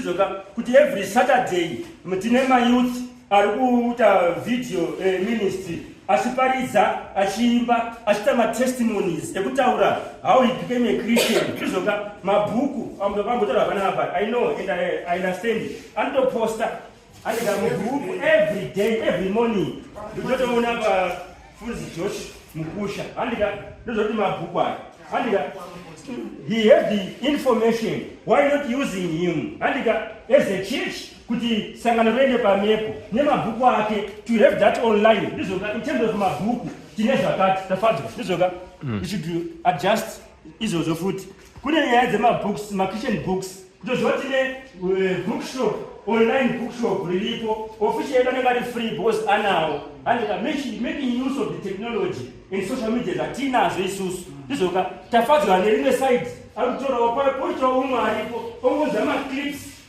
Izoka kuti every Saturday tine mayouth ari kuita video eh, ministry achiparidza achiimba achiita matestimonies ekutaura how he became a christian izvoka mabhuku ambotaura panapa i know and i understand anotoposta Anogara mugroup every day every morning. Ndichotoona pafunzi Josh Mukusha. Andika ndozoti mabhuku aya. Andika he has the information why not using him. Andika as a church kuti sangano rende pamhepo nemabhuku ake to have that online ndizoka in terms of mabhuku tine zvakati tafadzwa ndizoka mm. we should adjust izvozvo futi kune nyaya dzemabooks makitchen books kutoziva tine eh, bookshop online bookshop riripo official yedu anenge ari free because anawo andika making use of the technology and social media zvatinazo isusu ndizoka tafadzwa nerimwe side ari kutorawo poitawo umwe aripo ongoza maclips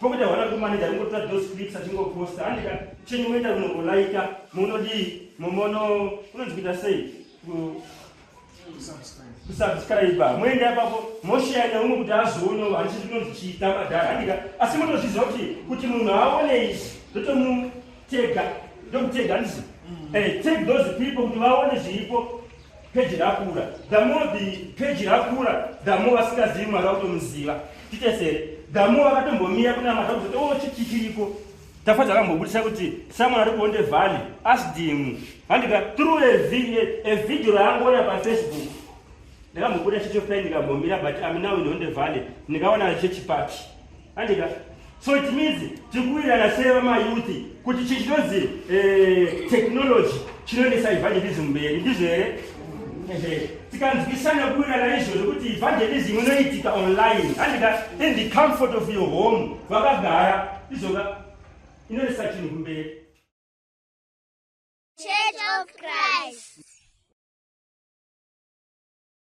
Pokuita hwana kumaneja kungotora those clips achingoposta andika chenyu moenda kunongolaika munodii mumono unonzwita sei kusubscriba moenda ipapo mosheya neumwe kuti azoono handichi tinonzi chiita madhara andika asi munozviziva kuti kuti munhu aone izvi ndotomutega ndomutega ndizi mm. eh, take those people kuti vaone zviripo Peji rakura. The more the peji rakura, the more vasingazivi mwari vakutomuziva. Titesere. The more vakatombomira kuna mwari vakuti oh chiki chiriko. Tafadza akambobudisa kuti someone ari kuonde valley asked him. Handika through a video, a video raangoona pa Facebook. Ndakambobuda chicho pen ndikambomira but I'm now in Honde Valley. Ndikaona chechi party. andika so it means tikuwirana sei vamayouth kuti chi chinonzi eh, technology chinoendesa evangelism mberi ndizvo here tikanzwisana kuwirana izvo zvekuti evangelism inoitika online andika in the comfort of your home vakagara izoka inoendesa chinhu kumberi Church of Christ.